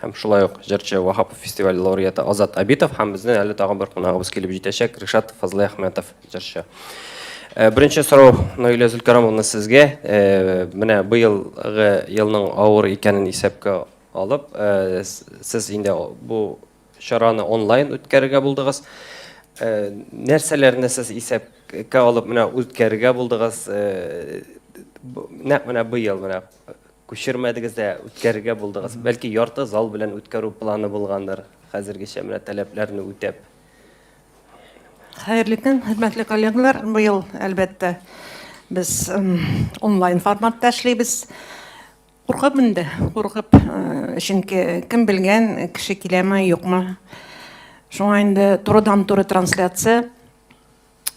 Һәм шулай ук җырчы Ваһапов фестивале лауреаты Азат Абитов һәм безнең әле тагын бер кунагыбыз килеп җитәчәк Ришат Фазлыйәхмәтов җырчы. Э, беренче сорау Наилә Зөлкарамовна сезгә. Э, менә быелгы елның авыр икәнен исәпкә алып, э, сез инде бу чараны онлайн үткәрергә булдыгыз. Нәрсәләрне сез исәпкә алып менә үткәрергә булдыгыз? Нәкъ менә быел менә Күчермәдегез дә, үткәрергә булдыгыз. Бәлки ярты зал белән үткәрү планы булгандыр, хәзергечә менә таләпләрне үтәп. Хәерле көн, хөрмәтле коллегалар. Быел, әлбәттә, без онлайн форматта эшлибез. Куркып инде, куркып, чөнки кем белгән, кеше киләме, юкмы. Шуңа инде турыдан-туры трансляция.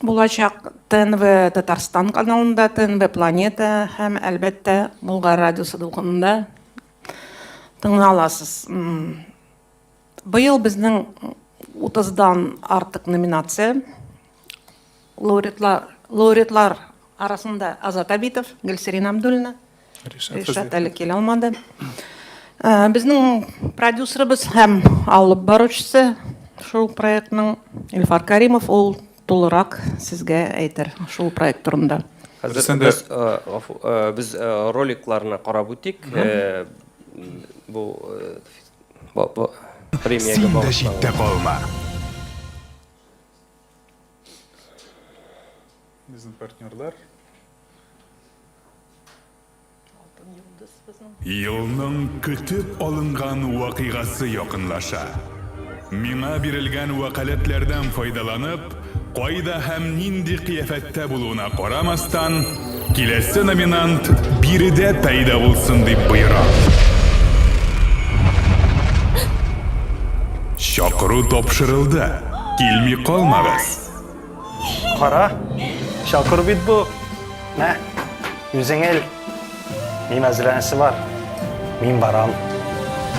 Булачак ТНВ Татарстан каналында, ТНВ Планета һәм әлбәттә Болгар радиосы дулкынында тыңлый аласыз. Быел безнең 30дан артык номинация. Лауреатлар, лауреатлар арасында Азат Абитов, Гөлсирин Абдуллина, Ришат әле килә алмады. Безнең продюсерыбыз һәм алып баручысы шул проектның Илфар Каримов, ул тулырак сезгә әйтер шул проект турында. Хәзер без, гафу, без роликларны карап үтик. Бу премиягә багышланган. Син дә читтә калма. Безнең партнерлар. Алтын йолдыз безнең. Елның көтеп алынган вакыйгасы якынлаша. Миңа бирелгән вәкаләтләрдән файдаланып, кайда һәм нинди кыяфәттә булуына карамастан, киләсе номинант биредә пәйда булсын дип боерам. Чакыру тапшырылды, килми калмагыз! Кара, чакыр бит бу. Мә, үзең ел. Мин әзрәнсе бар. Мин барам.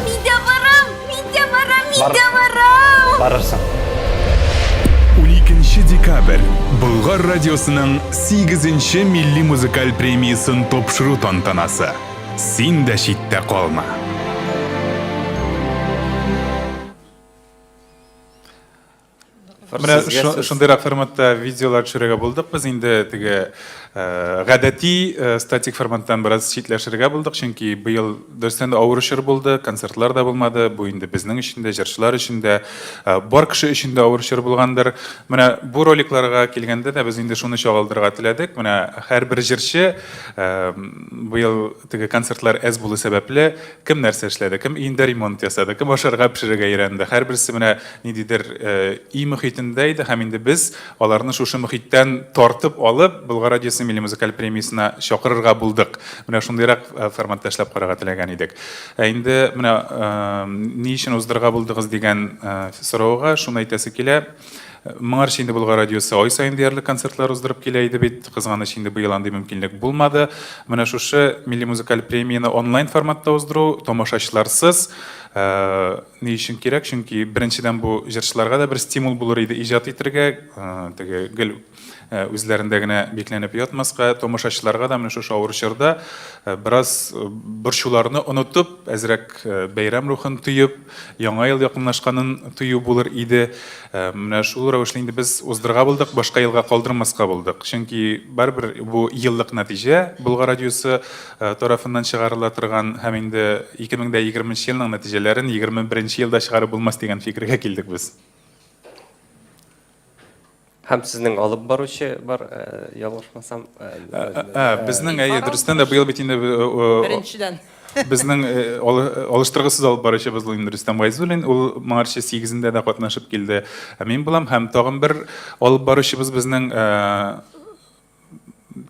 Мин дә барам, мин дә барам, мин Бар. дә барам. Барырсың. 12 декабрь Болгар радиосының 8 милли музыкаль премиясын тапшыру тантанасы. Син дә читтә калма. Менә шундыйрак форматта видеолар төшерергә булдык без инде теге э, гадәти э, статик форматтан бераз читләшергә булдык, чөнки быел дөрестән дә авыр чор булды, концертлар да булмады, бу инде безнең өчен дә, җырчылар өчен дә, э, бар кеше өчен дә авыр чор булгандыр. Менә бу роликларга килгәндә дә без инде шуны чагылдырырга теләдек. Менә һәрбер җырчы быел Теге концертлар әз булу сәбәпле, кем нәрсә эшләде, кем өендә ремонт ясады, кем ашарга пешерергә өйрәнде. Һәрберсе менә ниндидер өй мөхитендә иде һәм инде без аларны шушы мөхиттән тартып алып, Болгар радиосы милли музыкаль премиясенә чакырырга булдык. Менә шундыйрак форматта эшләп карарга теләгән идек. Ә инде менә ни өчен уздырырга булдыгыз дигән сорауга шуны әйтәсе килә, Моңарчы инде Болгар радиосы ай саен диярлек концертлар уздырып килә иде бит. Кызганыч, инде быел андый мөмкинлек булмады. Менә шушы милли музыкаль премияне онлайн форматта уздыру, тамашачыларсыз, ни өчен кирәк? Чөнки, беренчедән, бу җырчыларга да бер стимул булыр иде иҗат итергә, теге гел үзләрендә генә бикләнеп ятмаска, тамашачыларга да менә шушы авыр чорда бераз борчуларны онытып, әзрәк бәйрәм рухын тоеп, Яңа ел якынлашканын тою булыр иде. Менә шул рәвешле инде без уздырырга булдык, башка елга калдырмаска булдык. Чөнки барыбер бу еллык нәтиҗә Болгар радиосы тарафыннан чыгарыла торган һәм инде 2020 нче елның нәтиҗәләрен 21 нче елда чыгарып булмас дигән фикергә килдек без. Һәм сезнең алып баручы бар, ялгышмасам. Ә, безнең, әйе, дөрестән дә быел бит инде Беренчедән. Безнең алыштыргысыз алып баручыбыз Луин Рөстәм Гайзуллин, ул моңарчы 8-ндә дә катнашып килде. Мин булам һәм тагын бер алып баручыбыз безнең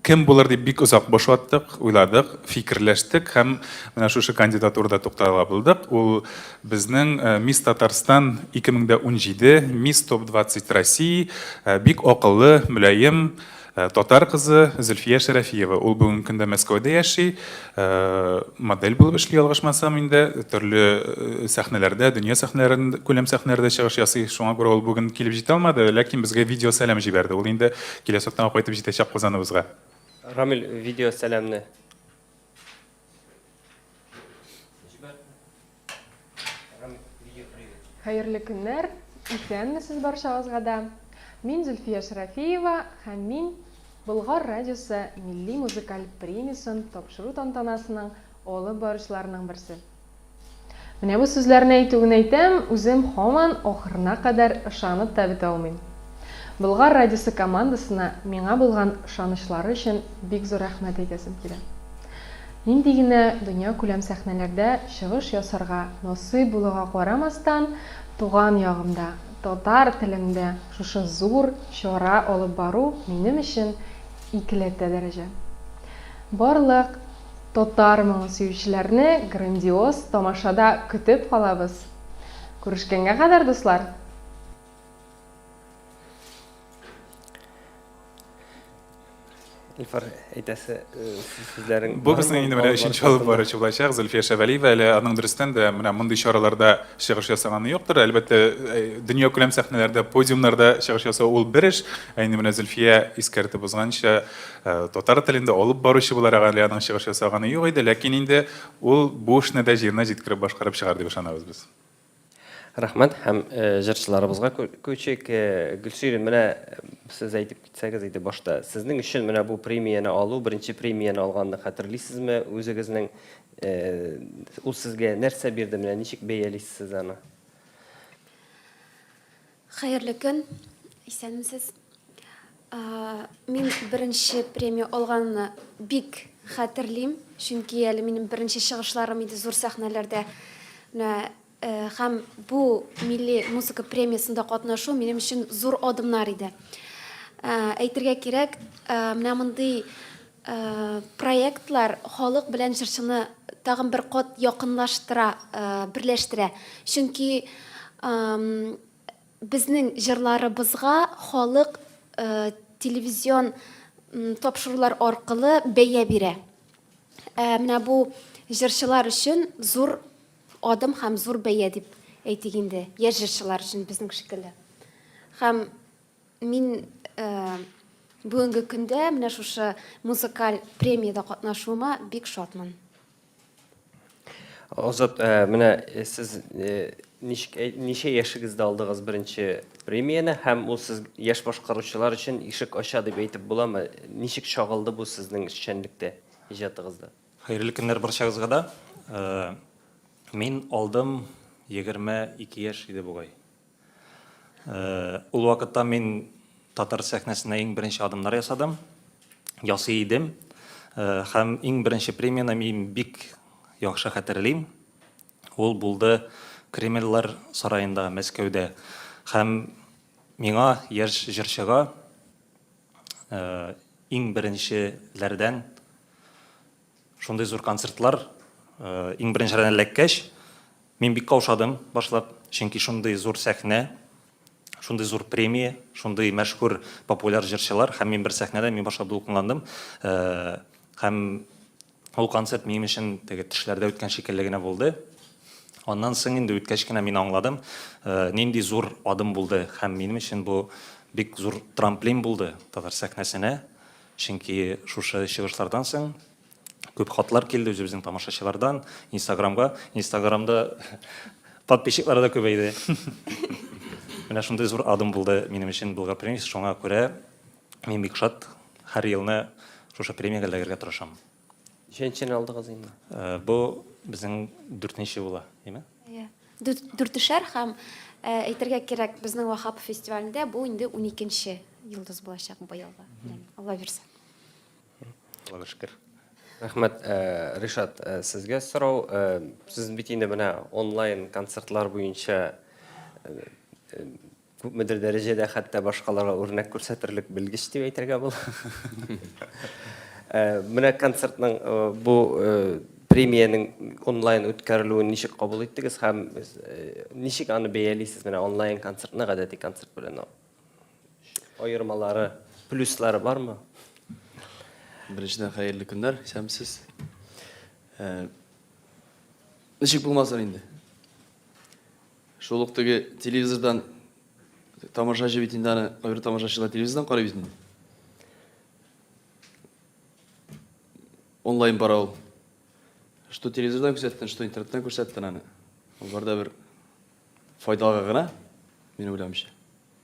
кем булыр дип бик озак бош аттык, уйладык, фикерләштек һәм менә шушы кандидатурада туктала булдык. Ул безнең э, Мисс Татарстан 2017, Мисс Топ 20 России, э, бик акыллы, мөлаем, э, татар кызы Зөлфия Шәрәфиева. Ул бүгенге көндә Мәскәүдә яши. Модель булып эшли, ялгышмасам инде. Төрле сәхнәләрдә, дөнья сәхнәләрендә, күләм сәхнәләрдә чыгыш ясый. Шуңа күрә ул бүген килеп җитә алмады, ләкин безгә видеосәлам җибәрде. Ул инде киләсе атнага кайтып җитәчәк Казаныбызга. Рамил, видеосәламне. Җибәрдем. Хәерле көннәр! Исәнмесез барчагызга да! Мин Зөлфия Шәрәфиева һәм мин Болгар радиосы милли музыкаль премиясен тапшыру тантанасының алып баручыларының берсе. Менә бу сүзләрне әйтү генә әйтәм, үзем һаман ахырына кадәр ышанып та бетә алмыйм. Болгар радиосы командасына миңа булган ышанычлары өчен бик зур рәхмәт әйтәсем килә. Нинди генә дөньякүләм сәхнәләрдә чыгыш ясарга насыйп булуга карамастан, туган ягымда, татар телендә шушы зур чара алып бару минем өчен икеләтә дәрәҗә. Барлык татар моңы сөючеләрне грандиоз тамашада көтеп калабыз. Күрешкәнгә кадәр, дуслар! Илфар әйтәсе э, сүзләрең Бу безнең инде менә өченче алып баручы булачак Зөлфия Шәвәлиева. Әле аның дөрестән дә менә мондый чараларда чыгыш ясаганы юктыр. Әлбәттә, э, дөнья күләм сәхнәләрдә, подиумнарда чыгыш ясау ул бер эш. Ә инде менә Зөлфия искәртеп узганча, э, татар телендә алып баручы буларак әле аның чыгыш ясаганы юк иде, ләкин инде ул бу эшне дә җиренә җиткереп башкарып чыгар дип ышанабыз без. Рәхмәт һәм җырчыларыбызга күчик. Гөлсирин, менә сез әйтеп китсәгез иде башта, сезнең өчен менә бу премияне алу, беренче премияне алганны хәтерлисезме үзегезнең? Ул сезгә нәрсә бирде, менә ничек бәялисез сез аны? Хәерле көн, исәнмесез. Мин беренче премия алганны бик хәтерлим, чөнки әле минем беренче чыгышларым иде зур сәхнәләрдә. Менә һәм бу милли музыка премиясендә катнашу минем өчен зур адымнар иде. Әйтергә кирәк, менә мондый Проектлар халык белән җырчыны тагын бер кат якынлаштыра, берләштерә. Чөнки безнең җырларыбызга халык телевизион тапшырулар аркылы бәя бирә. Ә менә бу җырчылар өчен зур адым һәм зур бәя дип әйтик инде, яшь җырчылар өчен безнең шикелле. Һәм. Мин э, бүгенге көндә менә шушы музыкаль премиядә катнашуыма бик шатмын. Азат, э, менә э, сез э, ничек э, ничә яшегездә алдыгыз беренче премияне һәм ул сез яшь башкаручылар өчен ишек ача дип әйтеп буламы? Ничек чагылды бу сезнең эшчәнлектә, иҗатыгызда? Хәерле көннәр барчагызга да. Э, Мин алдым 22 яшь иде бугай. Ул вакытта мин татар сәхнәсенә иң беренче адымнар ясадым, ясый идем. Һәм иң беренче премияне мин бик яхшы хәтерлим. Ул булды Кремльләр сараенда, Мәскәүдә. Һәм миңа яшь җырчыга иң беренчеләрдән Шундый зур концертлар иң беренчеләрдән эләккәч, мин бик каушадым башлап, чөнки шундый зур сәхнә, шундый зур премия, шундый мәшһүр популяр җырчылар һәм мин бер сәхнәдә, мин башлап дулкынландым. Һәм ул концерт минем өчен теге төшләрдә үткән шикелле генә булды. Аннан соң инде үткәч кенә мин аңладым, нинди зур адым булды һәм минем өчен бу бик зур трамплин булды татар сәхнәсенә. Чөнки шушы чыгышлардан соң күп хатлар килде үзебезнең тамашачылардан, Инстаграмга. Инстаграмда подписчиклары да күбәйде. Менә шундый зур адым булды минем өчен Булга премиясе, шуңа күрә мин бик шат, һәр елны шушы премиягә эләгергә тырышам. Ничәнчене алдыгыз инде? Э, бу безнең дүртенче була, димме? Иә. Дүртешәр һәм э, әйтергә кирәк, безнең Вахап фестивалендә бу инде уникенче йолдыз булачак быелгы. Алла бирсә. Алла шөкер. Рәхмәт, э, Ришат, сезгә сорау. Сез бит инде менә онлайн концертлар буенча Күпмедер дәрәҗәдә хәтта башкаларга үрнәк күрсәтерлек белгеч дип әйтергә була. Менә концертның бу премиянең онлайн үткәрелүен ничек кабул иттегез һәм ничек аны бәялисез? Менә онлайн концертны гадәти концерт белән аермалары, плюслары бармы? Беренчедән, хәерле көннәр, исәнмесез. Ничек булмасын инде? Шул ук теге телевизордан тамашачы бит инде аны, кайбер тамашачылар телевизордан карый бит инде. Онлайн бара ул. Что телевизордан күрсәттен, что интернеттан күрсәттен аны. Ул барда бер файдага гына, мин уйлавымча.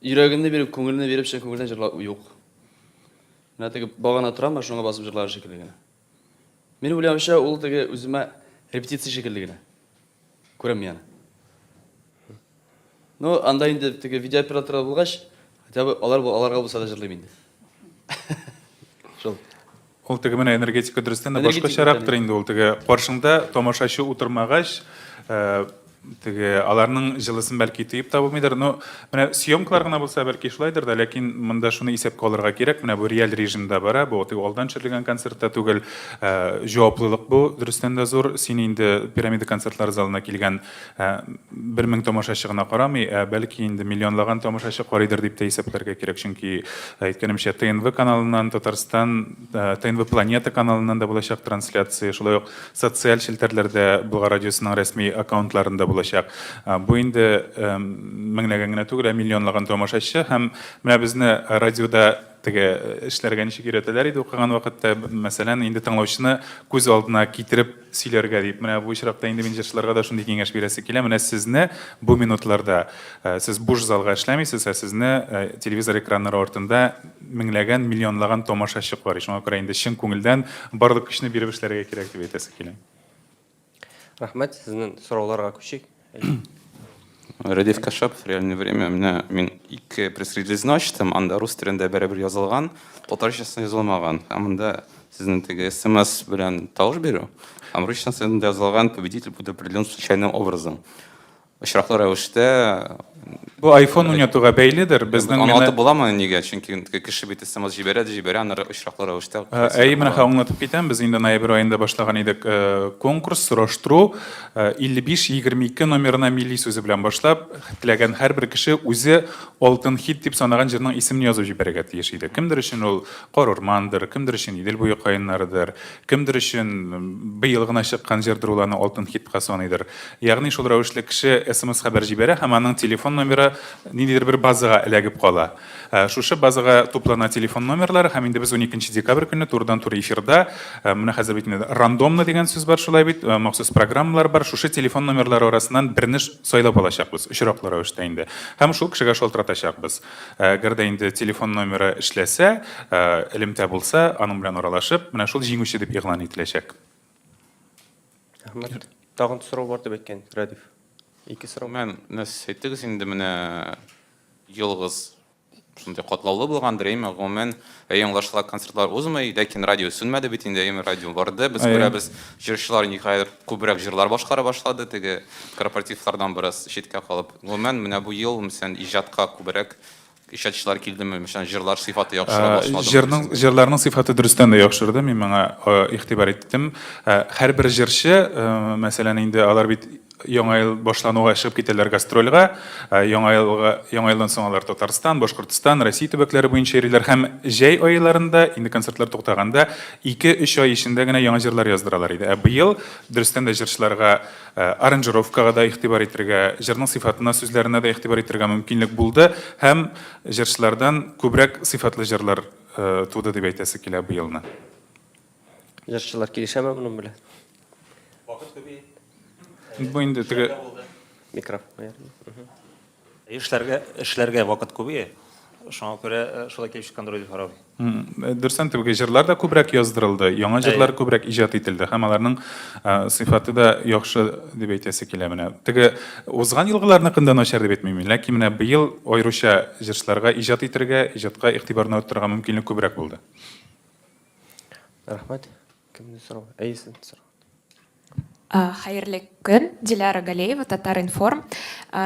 Йөрәгемне биреп, күңелне биреп, чын күңелдән җырлау юк. Менә теге багана торам, ә шуңа басып җырлар шикелле генә. Мин уйлауча, ул теге үземә репетиция шикелле генә. Күрәм яна. Ну, анда инде теге видеооператор булгач, хотя бы алар аларга булса да җырлыйм инде. Шул. Ул теге менә энергетика дөрестән дә Энергетика башкачарактыр тәнәй. инде ул теге каршыңда тамашачы утырмагач э, теге аларның җылысын бәлки тоеп та булмыйдыр но менә съемкалар гына булса бәлки шулайдыр да ләкин монда шуны исәпкә алырга кирәк менә бу реаль режимда бара бу теге алдан төшерелгән концерт та түгел э, җаваплылык бу дөрестән дә зур син инде пирамида концертлар залына килгән Ә бер мең тамашачы гына карамый, ә бәлки инде миллионлаган тамашачы карыйдыр дип тә исәпләргә кирәк, чөнки әйткәнемчә ТНВ каналыннан, Татарстан ТНВ Планета каналыннан да булачак трансляция, шулай ук социаль челтәрләрдә Болгар радиосының рәсми аккаунтларында булачак. Бу инде меңләгән генә түгел, ә миллионлаган тамашачы һәм менә безне радиода теге эшләргә ничек өйрәтәләр иде укыган вакытта, мәсәлән, инде тыңлаучыны күз алдына китереп, сөйләргә дип. Менә бу очракта инде мин җырчыларга да шундый киңәш бирәсе килә. Менә сезне бу минутларда, э, сез буш залга эшләмисез, ә сезне э, телевизор экраннары артында меңләгән, миллионлаган томашачы карый. Шуңа күрә инде чын күңелдән барлык көчне биреп эшләргә кирәк дип әйтәсе килә. Рәхмәт, сезнең сорауларга күчик. Радиф Кашапов, Реальное время. Менә мин ике пресс-релизны ачтым. Анда рус телендә бәрәбер язылган, татарчасы язылмаган. Ә монда сезнең теге смс белән тавыш бирү, һәм русчасы язылган, победитель будет определен случайным образом. Очраклы рәвештә Бу iPhone уйнатуга бәйледер. Безнең менә Аңлатып буламы нигә? Чөнки кеше бит смс җибәрә дә җибәрә, аннары очраклы рәвештә. Әй, менә аңлатып китәм. Без инде ноябрь аенда башлаган идек конкурс, сораштыру. 55-22 номерына милли сүзе белән башлап, теләгән һәрбер кеше үзе алтын хит дип санаган җырның исемен язып җибәрергә тиеш иде. Кемдер өчен ул Карурмандыр, кемдер өчен Идел буе каеннарыдыр, кемдер өчен быел гына чыккан җырдыр ул аны алтын хитка саныйдыр. Ягъни шул рәвешле кеше смс-хәбәр җибәрә һәм аның телефон номеры ниндидер бер базага эләгеп кала. Шушы базага туплана телефон номерлары һәм инде без уникенче декабрь көнне турыдан-туры эфирда, менә хәзер бит инде рандомно дигән сүз бар шулай бит, махсус программалар бар, шушы телефон номерлары арасыннан берне сайлап алачакбыз, очраклы рәвештә инде, һәм шул кешегә шалтыратачакбыз. Әгәр дә инде телефон номеры эшләсә, элемтә булса, аның белән аралашып, менә шул җиңүче дип игълан ителәчәк. Рәхмәт. Тагын сорау бар дип әйткән Радив. Ике сорау. Мен нәс әйттегез инде менә ялгыз шундый катлаулы булгандыр, әйме? Гомумән, Әйе, аңлашыла, концертлар узмый, ләкин радио сүнмәде бит инде, әйеме, радио барды. Без Әйе. күрәбез, җырчылар ниһаять күбрәк җырлар башкара башлады, теге корпоративлардан бераз читкә калып. Гомумән, менә бу ел, мәсәлән, иҗатка күбрәк иҗатчылар килдеме, мәсәлән, җырлар сыйфаты яхшыра Ә, башладымы? Җырның, дисең? җырларның сыйфаты дөрестән дә яхшырды, мин моңа э, игътибар иттем. Ә, Һәрбер җырчы, э, мәсәлән, инде алар бит Яңа ел башлануга чыгып китәләр гастрольгә. Яңа елга, яңа елдан соң алар Татарстан, Башкортстан, Россия төбәкләре буенча йөриләр һәм җәй аеларында, инде концертлар туктаганда, ике-өч ай эчендә генә яңа җырлар яздыралар иде. Ә быел, дөрестән дә, җырчыларга аранжировкага да игътибар итергә, җырның сыйфатына, сүзләренә дә игътибар итергә мөмкинлек булды һәм җырчылардан күбрәк сыйфатлы җырлар туды дип әйтәсе килә быелны. Җырчылар килешәме моның белән? Вакыт күбе. Бу инде теге микрофон. Эшләргә эшләргә вакыт күбе. Шуңа күрә э, шулай килеп чыккан дөрес карау. Э, Дөрсән түгел, җырлар да күбрәк яздырылды, яңа җырлар күбрәк иҗат ителде һәм аларның э, сыйфаты да яхшы дип әйтәсе килә менә. Теге узган елгыларныкын да начар дип әйтмим, ләкин менә быел аеруча җырчыларга иҗат итергә, иҗатка игътибарны арттырырга мөмкинлек күбрәк булды. Рәхмәт. Кемне сорау? Әйесен сорау. Хәерле көн, Диляра Галеева, Татар-информ.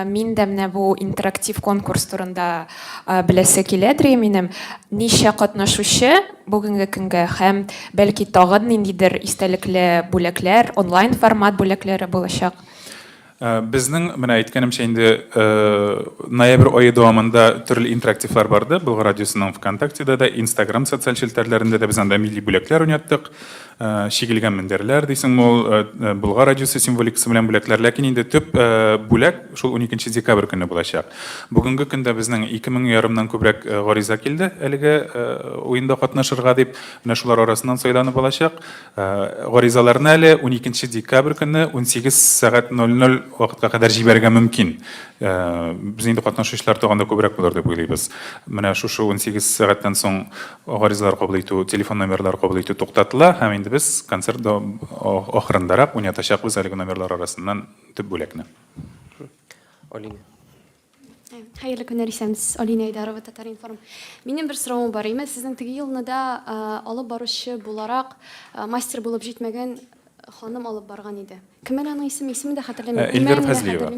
Мин дә менә бу интерактив конкурс турында беләсе килә дри минем. Ничә катнашучы бүгенге көнгә һәм бәлки тагын ниндидер истәлекле бүләкләр, онлайн формат бүләкләре булачак? Э, безнең менә әйткәнемчә инде э, ноябрь ае дәвамында төрле интерактивлар барды Болгар радиосының ВКонтактеда да, Инстаграм социаль челтәрләрендә дә без анда милли бүләкләр уйнаттык. Э, чигелгән мендәрләр дисең ул Болгар радиосы символикасы белән бүләкләр, ләкин инде төп бүләк шул 12 декабрь көне булачак. Бүгенге көндә безнең 2000 ярымнан күбрәк гариза килде әлеге уенда катнашырга дип, менә шулар арасыннан сайланып алачак. Гаризаларны әле уникенче декабрь көнне унсигез сәгать ноль ноль вакытка кадәр җибәрергә мөмкин. Без инде катнашучылар тагын да күбрәк булыр дип уйлыйбыз. Менә шушы унсигез сәгатьтән соң гаризалар кабул итү, телефон номерлары кабул итү туктатыла һәм инде без концерт ахырындарак уйнатачакбыз әлеге номерлар арасыннан төп бүлекне. Алинә. Хәерле көннәр, исәнмесез, Алинә Айдарова, Татар-информ. Минем бер соравым бар. Имән, сезнең теге елны да алып баручы буларак мастер булып җитмәгән ханым алып барган иде. Кем әле аның исеме? Исемен дә хәтерләмим. Эльвира Фазлиева.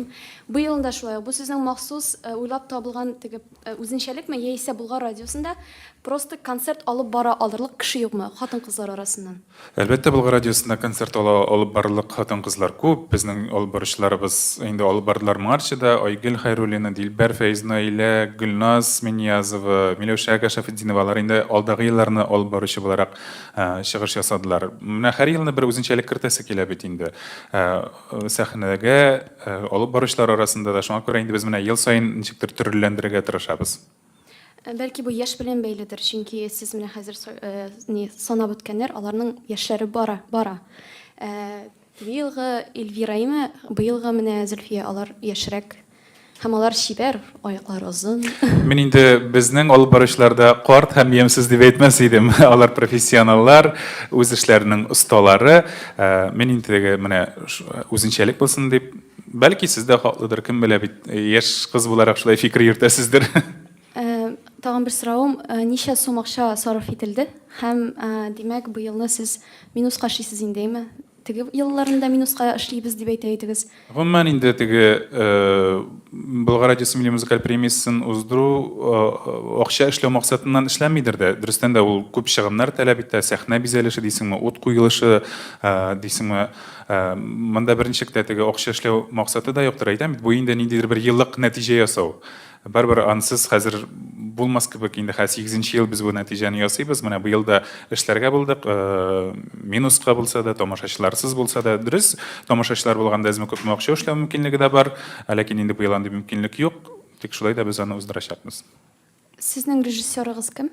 Бу елны да шулай ук. Бу сезнең махсус уйлап табылган теге үзенчәлекме, яисә Болгар радиосында просто концерт алып бара алырлык кеше юкмы хатын-кызлар арасыннан? Әлбәттә, Болгар радиосында концерт ала алып барырлык хатын-кызлар күп. Безнең алып баручыларыбыз инде алып бардылар моңарчы да, Айгөл Хәйруллина, Дилбәр Фәйзнаилә, Гөлназ Минниязова, Миләүшә Ага Шәфетдинова, алар инде алдагы елларны алып баручы буларак чыгыш ясадылар. Менә һәр елны бер үзенчәлек кертәсе килә бит инде сәхнәгә алып баручылар арасында да, шуңа күрә инде без менә ел саен ничектер төрлеләндерергә тырышабыз. Бәлки бу яшь белән бәйледер, чөнки сез менә хәзер ни санап үткәннәр, аларның яшьләре бара, бара. Быелгы Эльвира име, быелгы менә Зөлфия, алар яшьрәк. Һәм алар чибәр, аяклары озын. Мин инде безнең алып баручыларда карт һәм ямьсез дип әйтмәс идем. Алар профессионаллар, үз эшләренең осталары. Мин инде теге менә үзенчәлек булсын дип, Бәлки сез дә хаклыдыр, кем белә бит, яшь кыз буларак шулай фикер йөртәсездер. Тагын бер соравым, ничә сум акча сарыф ителде? Һәм, димәк, бу елны сез минуска эшлисез инде, әйме? Теге елларын да минуска эшлибез дип әйтә идегез. Гомумән инде теге Болгар радиосы милли музыкаль премиясен уздыру акча эшләү максатыннан эшләнмидер дә. Дөрестән дә ул күп чыгымнар таләп итә, сәхнә бизәлеше дисеңме, ут куелышы дисеңме, Э, монда беренче китә теге акча эшләү максаты да юктыр әйтәм бу инде ниндидер бер еллык нәтиҗә ясау барыбер ансыз хәзер булмас кебек инде хәзер сигезенче ел без бу нәтиҗәне ясыйбыз менә быел да эшләргә булдык э, минуска булса да тамашачыларсыз булса да дөрес тамашачылар булганда әзме күпме акча эшләү мөмкинлеге дә бар ә ләкин инде быел андый мөмкинлек юк тик шулай да без аны уздырачакбыз сезнең режиссерыгыз кем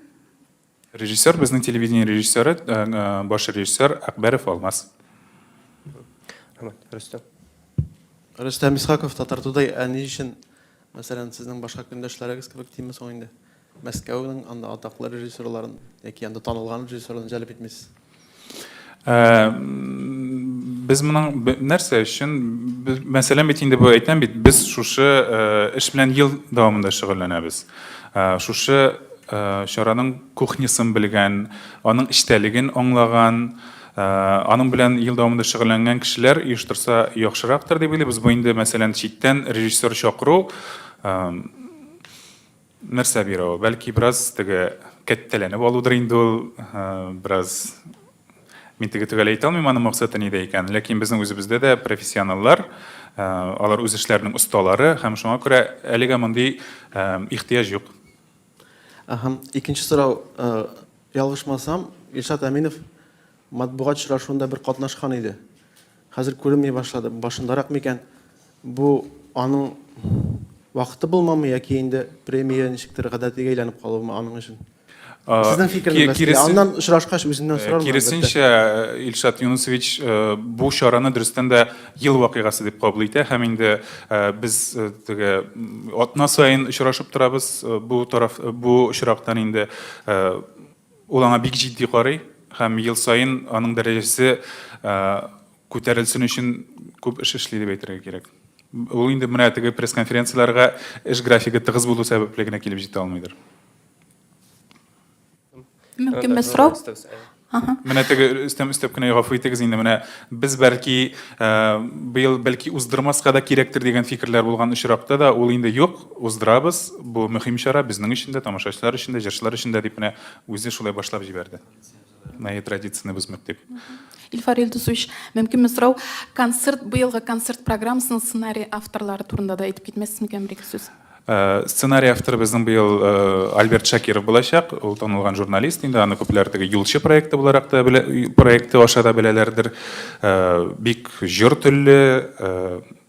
Режиссер, безнең телевидение режиссеры, баш режиссер Әкбәров Алмаз. Рөстәм. Рөстәм Исхаков, Татар Тудэй. Ә ни өчен, мәсәлән, сезнең башка көндәшләрегез кебек димме соң инде, Мәскәүнең анда атаклы режиссерларын яки анда танылган режиссерларын җәлеп итмисез? Без моның нәрсә өчен, мәсәлән, бит инде бу әйтәм бит, без шушы эш белән ел дәвамында шөгыльләнәбез. Шушы чараның кухнясын белгән, аның эчтәлеген аңлаган, аның белән ел дәвамында шөгыльләнгән кешеләр оештырса яхшырактыр дип уйлыйбыз. Бу инде, мәсәлән, читтән режиссер чакыру, Нәрсә бирә ул? Бәлки бераз теге кәттәләнеп алудыр инде ул, бераз мин теге төгәл әйтә алмыйм аның максаты нидә икән, ләкин безнең үзебездә дә профессионаллар, алар үз эшләренең осталары һәм шуңа күрә әлегә мондый ихтыяҗ юк. Әһә, икенче сорау, ялгышмасам, Илшат Әминов матбугат очрашуында бер катнашкан иде. Хәзер күренми башлады, башындарак микән? Бу аның вакыты булмамы яки инде премия ничектер гадәтигә әйләнеп калуымы аның өчен? Сезнең фикерегез киресен... нәрсә? Аннан очрашкач үзеннән э, сорармын. Киресенчә, э, Илшат Юнусович э, бу чараны дөрестән дә ел вакыйгасы дип кабул итә һәм инде без теге атна саен очрашып торабыз. Бу тараф бу очрактан инде Ул аңа бик җитди карый һәм ел саен аның дәрәҗәсе күтәрелсен өчен күп эш эшли дип әйтергә кирәк. Ул инде менә теге пресс-конференцияләргә эш графигы тыгыз булу сәбәпле генә килеп җитә алмыйдыр. Мөмкин бер сорау? Менә теге өстәп өстәп кенә гафу итегез инде, менә без бәлки быел бәлки уздырмаска да кирәктер дигән фикерләр булган очракта да ул инде юк, Уздырабыз, бу мөһим чара безнең өчен дә, тамашачылар өчен дә, җырчылар өчен дә, дип менә үзе шулай башлап җибәрде. Мои традицияне бозмыйк дип. Илфар Илдусович, мөмкинме сорау, концерт, быелгы концерт программасының сценарий авторлары турында да әйтеп китмәссез микән бер-ике сүз? Э, сценарий авторы безнең быел э, Альберт Шакиров булачак. Ул танылган журналист инде, аны күпләр теге юлчы проекты буларак та белә, проекты аша да беләләрдер. Э, бик җор телле,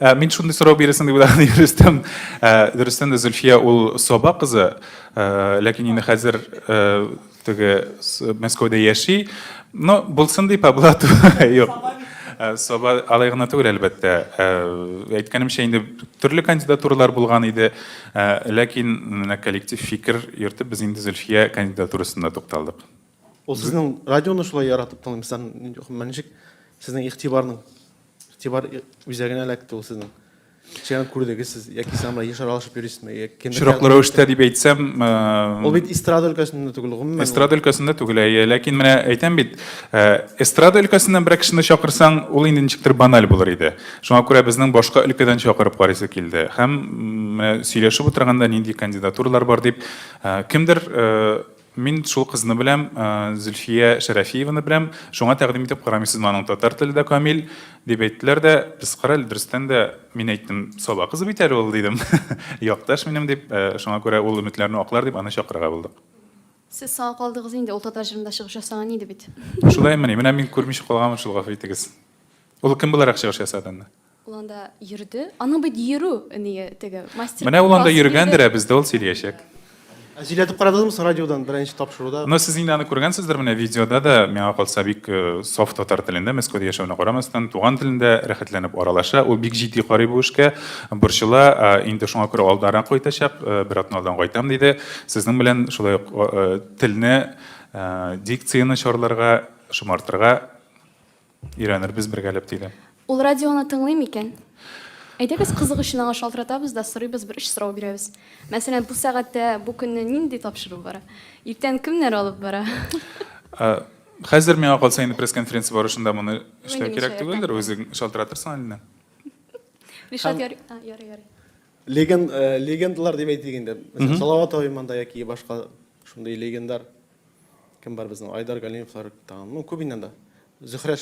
Ә, мин шундый сорау бирәсең дип уйлаган идем, Рөстәм. Ә, дөрестән дә Зөлфия ул Саба кызы, ә, ләкин инде хәзер ә, теге с- Мәскәүдә яши. Ну, булсын дип, ә була ту- Юк. Ә, Саба алай гына түгел, әлбәттә. Ә, Әйткәнемчә, инде төрле кандидатуралар булган иде, ә, ләкин менә коллектив фикер йөртеп, без инде Зөлфия кандидатурасында тукталдык. Ул сезнең радионы шулай яратып тыңлыйм. Сездән нинди- гомумән ничек сезнең игътибарның? Игътибар үзәгенә эләкте ул сезнең. Чыган күрдегез сез, яки сез анда еш аралашып йөрисезме? Очраклы рәвештә дип әйтсәм, ул бит эстрада өлкәсендә түгел, гомумән. Эстрада өлкәсендә түгел, әйе. Ләкин менә әйтәм бит, эстрада өлкәсеннән берәр кешене чакырсаң, ул инде ничектер баналь булыр иде. Шуңа күрә безнең башка өлкәдән чакырып карыйсы килде. Һәм менә сөйләшеп утырганда, нинди кандидатуралар бар дип, кемдер Мин шул кызны беләм, Зөлфия Шәрәфиеваны беләм, шуңа тәкъдим итеп карамыйсызмы аның татар теле дә камил, дип әйттеләр дә, без кара әле, дөрестән дә, мин әйттем, Саба кызы бит әле ул, дидем, якташ минем, дип, шуңа күрә ул өметләрне аклар дип аны чакырырга булдык. Сез соңга калдыгыз инде, ул татар җырында чыгыш ясаган иде бит. Шулаймыни, менә мин күрмичә калганмын шул, гафу итегез. Ул кем буларак чыгыш ясады анда? Ул анда йөрде. Аның бит йөрү ние теге мастер. Менә ул анда йөргәндер, ә бездә ул сөйләячәк. Ә сөйләтеп карадыгызмы соң радиодан беренче тапшыруда? Ну, сез инде аны күргәнсездер, менә видеода да, миңа калса, бик саф татар телендә, Мәскәүдә яшәвенә карамастан, туган телендә рәхәтләнеп аралаша. Ул бик җитди карый бу эшкә, борчыла, инде шуңа күрә алданрак кайтачак, бер атна алдан кайтам диде. Сезнең белән шулай ук телне, дикцияне чарларга, шомартырга Өйрәнербез бергәләп, диде. Ул радионы тыңлый микән? Әйдәгез, кызык өчен аңа шалтыратабыз да сорыйбыз, бер өч сорау бирәбез. Мәсәлән, бу сәгатьтә, бу көнне нинди тапшыру бара? Иртән кемнәр алып бара? Хәзер, миңа калса, инде пресс-конференция барышында моны эшләү кирәк түгелдер, үзең шалтыратырсың Алинә. Ришат, ярый, ярый, ярый. Легендалар дип әйтик инде. Мәсәлән, Салават абый монда яки башка шундый легендар. Кем бар безнең? Айдар Галимовлар тагын. Ну, күп инде анда. Зөһрә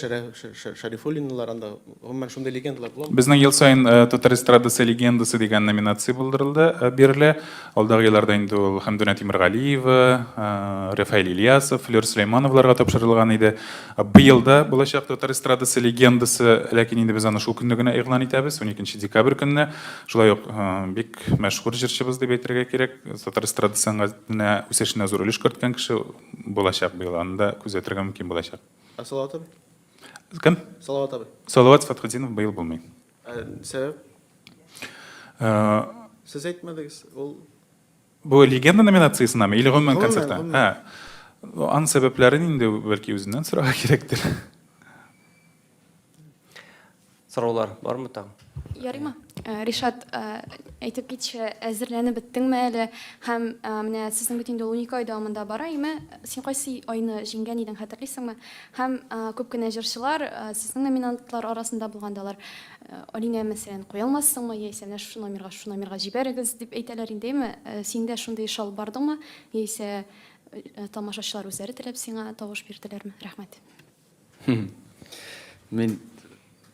Шәрифуллиналар анда. Гомумән шундый легендалар була. Безнең ел саен Татар эстрадасы легендасы дигән номинация булдырылды, бирелә. Алдагы елларда инде ул Хәмдүнә Тимергалиева, Рафаэль Ильясов, Флёр Сөләймановларга тапшырылган иде. Быел да булачак Татар эстрадасы легендасы, ләкин инде без аны шул көнне генә игълан итәбез, уникенче декабрь көнне. Шулай ук бик мәшһүр җырчыбыз дип әйтергә кирәк. Татар эстрада сәнгатенә үсешенә зур өлеш керткән кеше булачак быел, аны да күзәтергә мөмкин булачак. Ә Салават абый? Кем? Салават абый. Салават Фатхетдинов быел булмый. Ә сәбәп? Ә... Сез әйтмәдегез, ул... Бу легенда номинациясенәме или гомумән концертта? Ә, ан сәбәпләрен инде бәлки үзеннән сорарга кирәктер. Сораулар бармы тагын? Ярыймы? Э, Ришат, э, әйтеп китче, әзерләнеп беттеңме әле? Һәм э, менә сезнең бит инде ул унике ай дәвамында бара, име? Син кайсы айны җиңгән идең, хәтерлисеңме? Һәм күп кенә җырчылар сезнең номинантлар арасында булган да алар. Алинә, мәсәлән, куя алмассыңмы, яисә менә шушы номерга, шушы номерга җибәрегез дип әйтәләр инде, име? Синдә шундый иш алып бардыңмы? Яисә тамашачылар үзләре теләп сиңа тавыш бирделәрме? Рәхмәт. Мин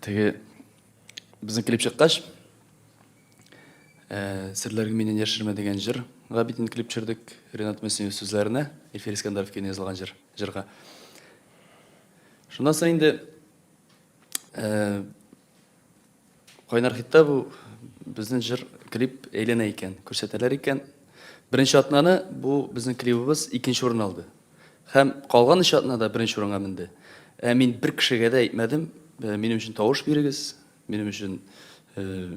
теге безнең клип чыккач, э, серләргә мине яшермә дигән җыр га бит инде клип төшердек Ренат Мөслимов сүзләренә, Эльфир Искәндәров көенә язылган җыр, җырга. Шуннан соң инде э, Кайнар хитта бу безнең җыр клип әйләнә икән, күрсәтәләр икән. Беренче атнаны бу безнең клибыбыз икенче урын алды. Һәм калган өч атна да беренче урынга менде. Ә мин бер кешегә дә әйтмәдем, «Э, минем өчен тавыш бирегез, минем өчен э,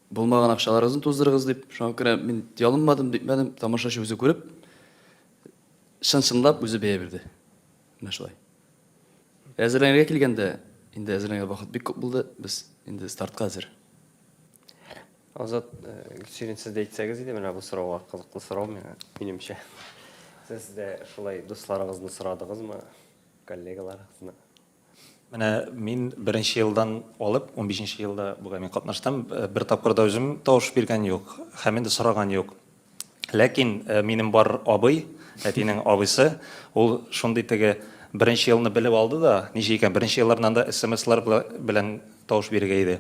булмаган акчаларыгызны туздырыгыз дип. Шуңа күрә мин ялынмадым, дипмәдем, тамашачы үзе күреп, чын-чынлап үзе бәя бирде. Менә шулай. Әзерләнергә килгәндә, инде әзерләнгән вакыт бик күп булды, без инде стартка әзер. Азат, Гөлсирин, сез дә әйтсәгез иде, менә бу сорауга кызыклы сорау миңа, минемчә. Сез дә шулай дусларыгызны сорадыгызмы, коллегаларыгызны? Менә мин беренче елдан алып, унбишенче елда бүген мин катнаштым, бер тапкыр да үзем тавыш биргән юк һәм инде сораган юк. Ләкин минем бар абый, әтинең абыйсы, ул шундый теге беренче елны белеп алды да, ничек икән, беренче еллардан да смслар белән тавыш бирергә иде.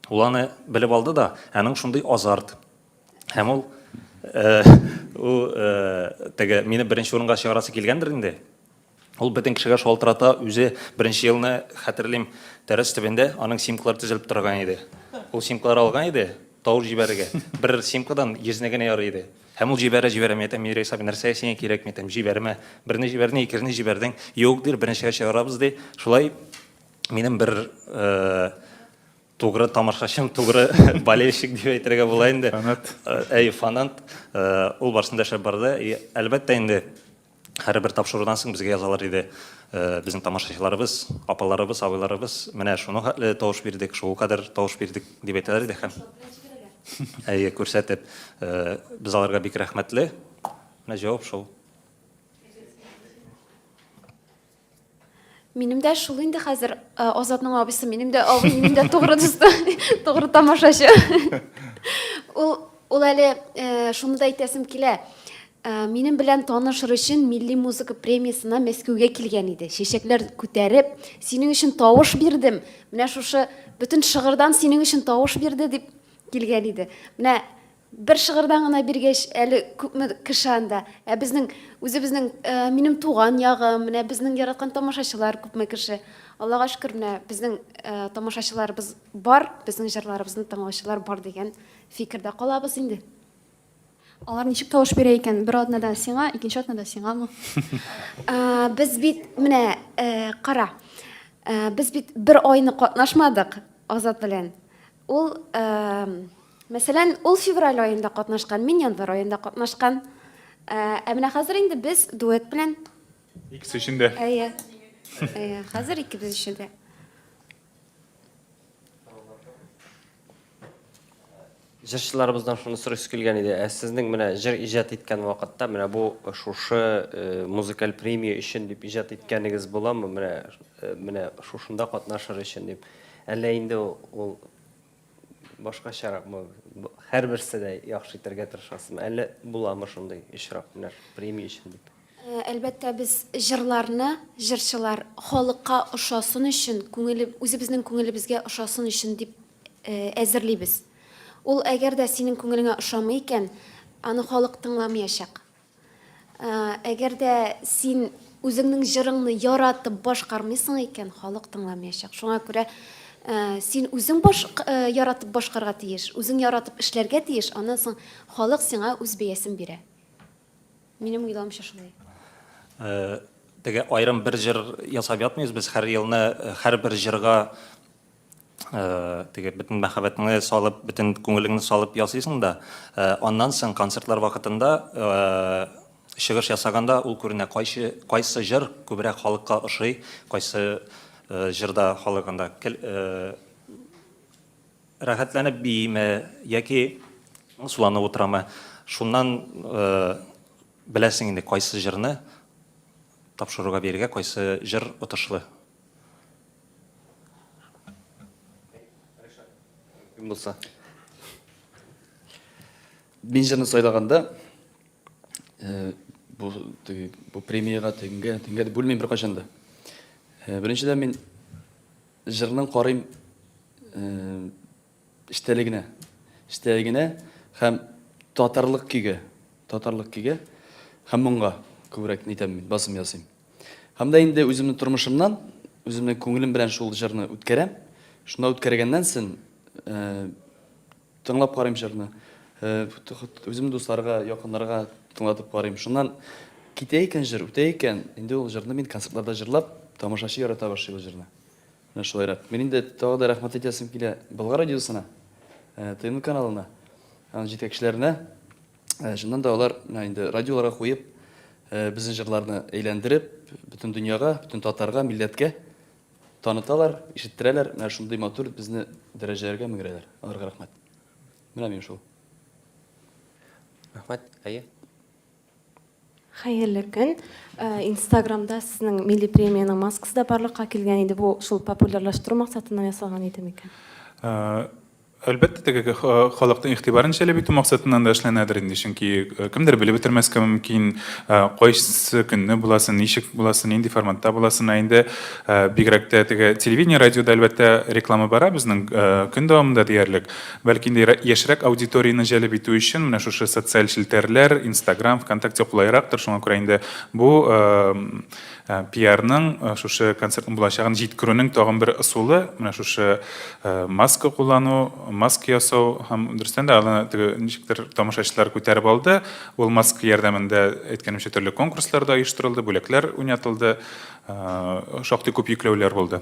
Ул аны белеп алды да, аның шундый азарт. Һәм ул ул теге мине беренче урынга чыгарасы килгәндер инде. Ул бөтен кешегә шалтырата, үзе беренче елны, хәтерлим, тәрәз төбендә аның симклары тезелеп торган иде. Ул симклар алган иде, тавыш җибәрергә. Бер симкадан йөзне генә ярый иде. Һәм ул җибәрә, җибәрә, мин әйтәм, Мирис абый, нәрсә сиңа кирәк, мин әйтәм, җибәрмә. Берне җибәрдең, икенче җибәрдең, юк, ди, беренчегә чыгарабыз, ди. Шулай минем бер тугры тамашачым, тугры болельщик дип әйтергә була инде. Фанат. Әй, фанат. Ул барсында эшләп барды. Әлбәттә инде, Һәрбер тапшырудан соң безгә язалар иде, Безнең тамашачыларыбыз, апаларыбыз, абыйларыбыз менә шуның хәтле тавыш бирдек, шул кадәр тавыш бирдек дип әйтәләр иде һәм әйе, күрсәтеп, без аларга бик рәхмәтле. Менә җавап шул. Минем дә шул инде хәзер э, Азатның абысы, минем дә абый, минем дә тугры дусты, тугры тамашачы. Ул ул әле э, шуны да әйтәсем килә. Э, Минем белән танышыр өчен милли музыка премиясына Мәскәүгә килгән иде. Чәчәкләр күтәреп, синең өчен тавыш бирдем. Менә шушы бөтен шыгырдан синең өчен тавыш бирде дип килгән иде. Менә Бер шыгырдан гына биргәч, әле күпме кеше анда. Ә безнең, үзебезнең, э, минем туган ягым, менә безнең яраткан тамашачылар күпме кеше. Аллага шөкер, менә безнең, э, тамашачыларыбыз бар, безнең җырларыбызны тыңлаучылар бар дигән фикердә калабыз инде. Алар ничек тавыш бирә икән? Бер атнада сиңа, икенче атнада сиңамы? А, без бит, менә, э, кара, э, без бит бер айны катнашмадык Азат белән. Ул, э, Мәсәлән, ул февраль аенда катнашкан, мин январь аенда катнашкан. Ә, ә менә хәзер инде без дуэт белән. Икесе өчен дә. Әйе. Әйе, хәзер икебез өчен дә. Җырчыларыбыздан шуны сорыйсы килгән иде. Ә сезнең менә җыр иҗат иткән вакытта менә бу шушы э, музыкаль премия өчен дип иҗат иткәнегез буламы? Менә э, менә шушында катнашыр өчен дип. Әллә инде ул Башкачаракмы, һәрберсе дә яхшы итәргә тырышасызмы? Әллә буламы шундый очрак, менә премия өчен дип? Әлбәттә, без җырларны, җырчылар халыкка ошасын өчен, үзебезнең күңелебезгә ошасын өчен дип әзерлибез. Ул әгәр дә синең күңелеңә ошамый икән, аны халык тыңламыячак. Әгәр дә син үзеңнең җырыңны яратып башкармыйсың икән, халык тыңламаячак. Шуңа күрә Э, син үзең баш э, яратып башкарга тиеш үзең яратып эшләргә тиеш аннан соң халык сиңа үз бәясен бирә минем уйлавымча шулай э, теге аерым бер җыр ясап ятмыйбыз без һәр елны һәрбер җырга теге бөтен мәхәббәтеңне салып, бөтен күңелеңне салып ясыйсың да, аннан соң концертлар вакытында чыгыш ясаганда ул күренә, кайсы, кайсы җыр күбрәк халыкка ошый, кайсы җырда халык анда рәхәтләнеп бииме яки суланып утырамы. Шуннан беләсең инде, кайсы җырны тапшыруга биергә, кайсы җыр отышлы. Булса. Мин җырны сайлаганда э, бу теге бу премиягә теңгә теңгә дип бүлмим беркайчан да. Э, беренчедән мин җырның карыйм э, Эчтәлегенә. Эчтәлегенә һәм татарлык көйгә. Татарлык көйгә һәм моңга күбрәк нитәм мин, басым ясыйм. Һәм дә инде үземнең тормышымнан, үземнең күңелем белән шул җырны үткәрәм. Шунда үткәргәннән сон, э, тыңлап карыйм җырны. Э, үзем дусларга, якыннарга тыңлатып карыйм. Шуннан китә икән җыр, үтә икән, инде ул җырны мин концертларда җырлап, тамашачы ярата башлый ул җырны. Менә шулайрак. Мин инде тагы да рәхмәт әйтәсем килә Болгар радиосына, ТМ каналына, аның җитәкчеләренә. Чыннан да алар менә инде радиоларга куеп, безнең җырларны әйләндереп, бөтен дөньяга, бөтен татарга, милләткә таныталар, ишеттерәләр. Менә шундый матур безне дәрәҗәләргә меңрәләр. Аларга рәхмәт. Менә мин шул. Рәхмәт. Әйе. Хәерле көн! Инстаграмда сезнең милли премиянең маскасы да барлыкка килгән иде. Бу шул популярлаштыру максатыннан ясалган иде микән? Әлбәттә, теге халыкның игътибарын җәлеп итү максатыннан да эшләнәдер инде, чөнки кемдер белеп бетермәскә мөмкин, кайсы көнне буласын, ничек буласын, нинди форматта буласын. Ә инде бигрәк тә теге телевидение, радиода, әлбәттә, реклама бара безнең көн дәвамында диярлек. Бәлки инде яшьрәк аудиторияне җәлеп итү өчен менә шушы социаль челтәрләр, Инстаграм, Вконтакте кулайрактыр, шуңа күрә инде бу пиарның шушы концертның булачагын җиткерүнең тагын бер ысулы, менә шушы маска куллану, маска ясау һәм дөрестән дә аны теге ничектер тамашачылар күтәреп алды. Ул маска ярдәмендә, әйткәнемчә, төрле конкурслар да оештырылды, бүләкләр уйнатылды, шактый күп йөкләүләр булды.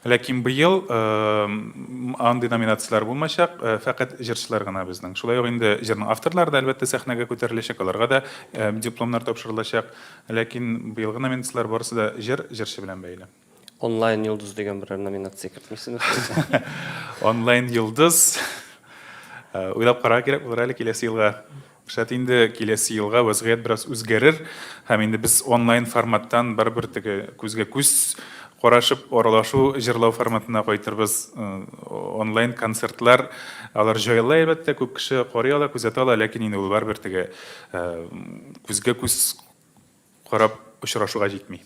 Ләкин быел андый номинацияләр булмачак, фәкать җырчылар гына безнең. Шулай ук инде җырның авторлары да, әлбәттә, сәхнәгә күтәреләчәк, аларга да дипломнар тапшырылачак. Ләкин быелгы номинацияләр барысы да җыр, җырчы белән бәйле. Онлайн йолдыз дигән берәр номинация кертмисезме? Онлайн йолдыз, уйлап карарга кирәк булыр әле киләсе елга. Шәт инде, киләсе елга вәзгыять бераз үзгәрер һәм инде без онлайн форматтан барыбер теге күзгә күз карашып аралашу җырлау форматына кайтырбыз. Онлайн концертлар алар җайлы әлбәттә, күп кеше карый ала, күзәтә ала, ләкин инде ул барыбер теге күзгә күз Карап очрашуга җитми.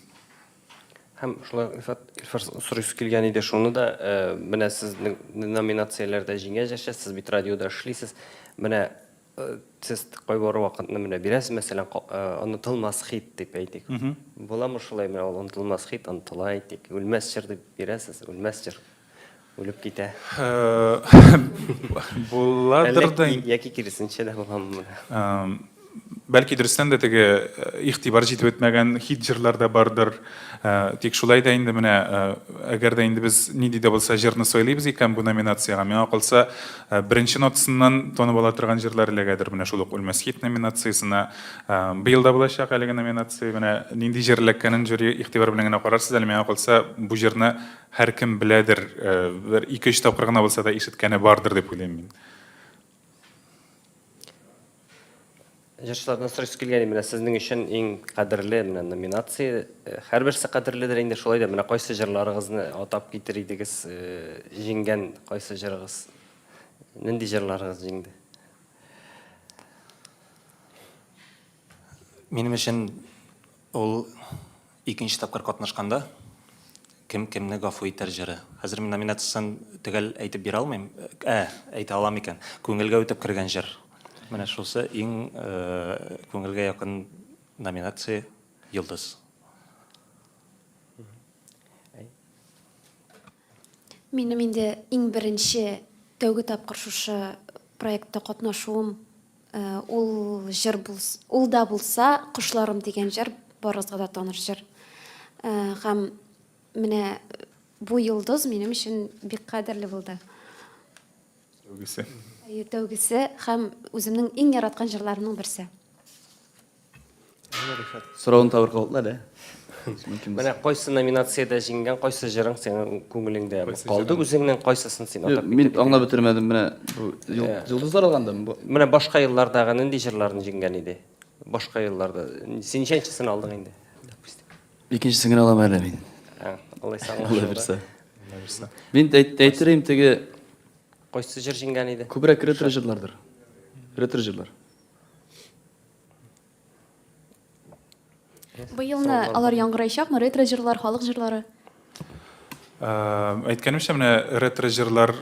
Һәм шулай Илфат, Илфар сорыйсы килгән иде шуны да, менә сез номинацияләрдә җиңәҗ яшә, сез бит радиода эшлисез. Менә сез кайбер вакытны менә бирәсез, мәсәлән, онытылмас хит дип әйтик. Буламы шулай, менә ул онытылмас хит, онытыла әйтик, үлмәс җыр дип бирәсез, үлмәс җыр. Үлеп китә. Буладыр да. Яки киресенчә дә буламы? Бәлки дөрестән дә теге игътибар җитеп бетмәгән хит җырлар да бардыр. Тик шулай да инде менә, әгәр дә инде без нинди дә булса җырны сайлыйбыз икән бу номинациягә, миңа калса, беренче нотасыннан танып ала торган җырлар эләгәдер менә шул ук Үлмәс хит номинациясенә. Быел да булачак әлеге номинация. Менә нинди җыр эләккәнен жюри игътибар белән генә карарсыз әле. Миңа калса, бу җырны Һәркем беләдер, бер ике-өч тапкыр гына булса да ишеткәне бардыр дип уйлыйм мин. Җырчылардан сорыйсы килгән, менә сезнең өчен иң кадерле менә номинация, һәрберсе кадерледер инде, шулай да менә кайсы җырларыгызны атап китер идегез, җиңгән кайсы җырыгыз, нинди җырларыгыз җиңде? Минем өчен ул Икенче тапкыр катнашканда Кем кемне гафу итәр җыры. Хәзер мин номинациясен төгәл әйтеп бирә алмыйм. Ә, әйтә алам икән. Күңелгә үтеп кергән җыр. Менә шусы иң күңелгә якын номинация Йолдыз. Минем инде иң беренче тәүге тапкыр шушы проектта катнашуым ул җыр булса, ул да булса Кошларым дигән җыр барыгызга да таныш җыр. Һәм менә бу йолдыз минем өчен бик кадерле булды. Тәүгесе. Тәүгесе һәм үземнең иң яраткан җырларымның берсе. Сорауны табыр калдылар, ә? Менә кайсы номинациядә җиңгән, кайсы җырың синең күңелеңдә калды, үзеңнең кайсысын син атап Мин аңлап бетермәдем, менә бу Йолдызлар алгандамы бу? Менә башка еллардагы нинди җырларны җиңгән иде? Башка елларда. Син ничәнчесен алдың инде? Икенчесен генә алам әле мин. Алай саңлап. Алла бирсә. Мин әйтерим теге Кайсы җыр җиңгән иде? Күбрәк ретро җырлардыр. Ретро җырлар. Быелны алар яңгыраячакмы? Ретро җырлар, халык җырлары? Әйткәнемчә, менә ретро җырлар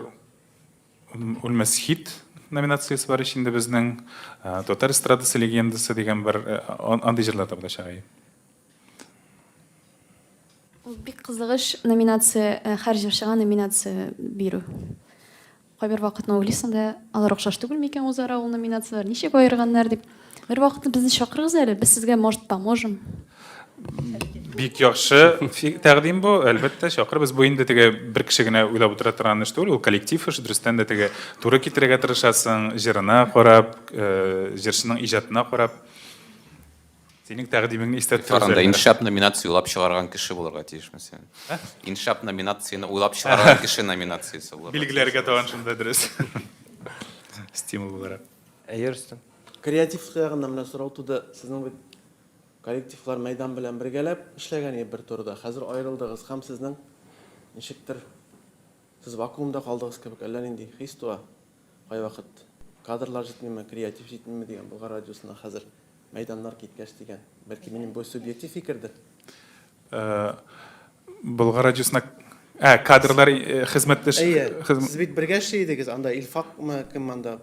үлмәс хит номинациясе бар ич инде безнең. Татар эстрадасы легендасы дигән бер андый җырлар да булачак. Ул бик кызыгыч номинация, һәр җырчыга номинация бирү. Кайбер вакытны уйлыйсың да, алар охшаш түгел микән узара ул номинацияләр, ничек аерганнар дип. Бер вакытны безне чакырыгыз әле, без сезгә, может, поможем. Бик яхшы тәкъдим бу, әлбәттә, чакырбыз. Бу инде теге бер кеше генә уйлап утыра торган эш түгел, ул коллектив эш, дөрестән дә теге туры китерергә тырышасың, җырына карап, э, җырчының иҗатына карап. Синең тәкъдимеңне истә тотабыз. Фаранда иншап номинация уйлап чыгарган кеше булырга тиешме син? Иншап номинацияне уйлап чыгарган кеше номинациясе булырга. Билгеләргә тагын шунда дөрес. Стимул буларак. Әйе, Рөстәм. Креатив ягыннан менә сорау туды. Сезнең бит коллективлар мәйдан белән бергәләп эшләгән иде бер турыда. Хәзер аерылдыгыз һәм сезнең ничектер Сез вакуумда калдыгыз кебек, әллә нинди хис туа кайвакыт. Кадрлар җитмиме, креатив җитмиме дигән, Болгар радиосына хәзер мәйданнар киткәч дигән. Бәлки минем бу субъектив фикердер? Болгар радиосына Ә, кадрлар хезмәттәш Әйе. Сез бит бергә эшли идегез анда, Илфакмы, кем анда?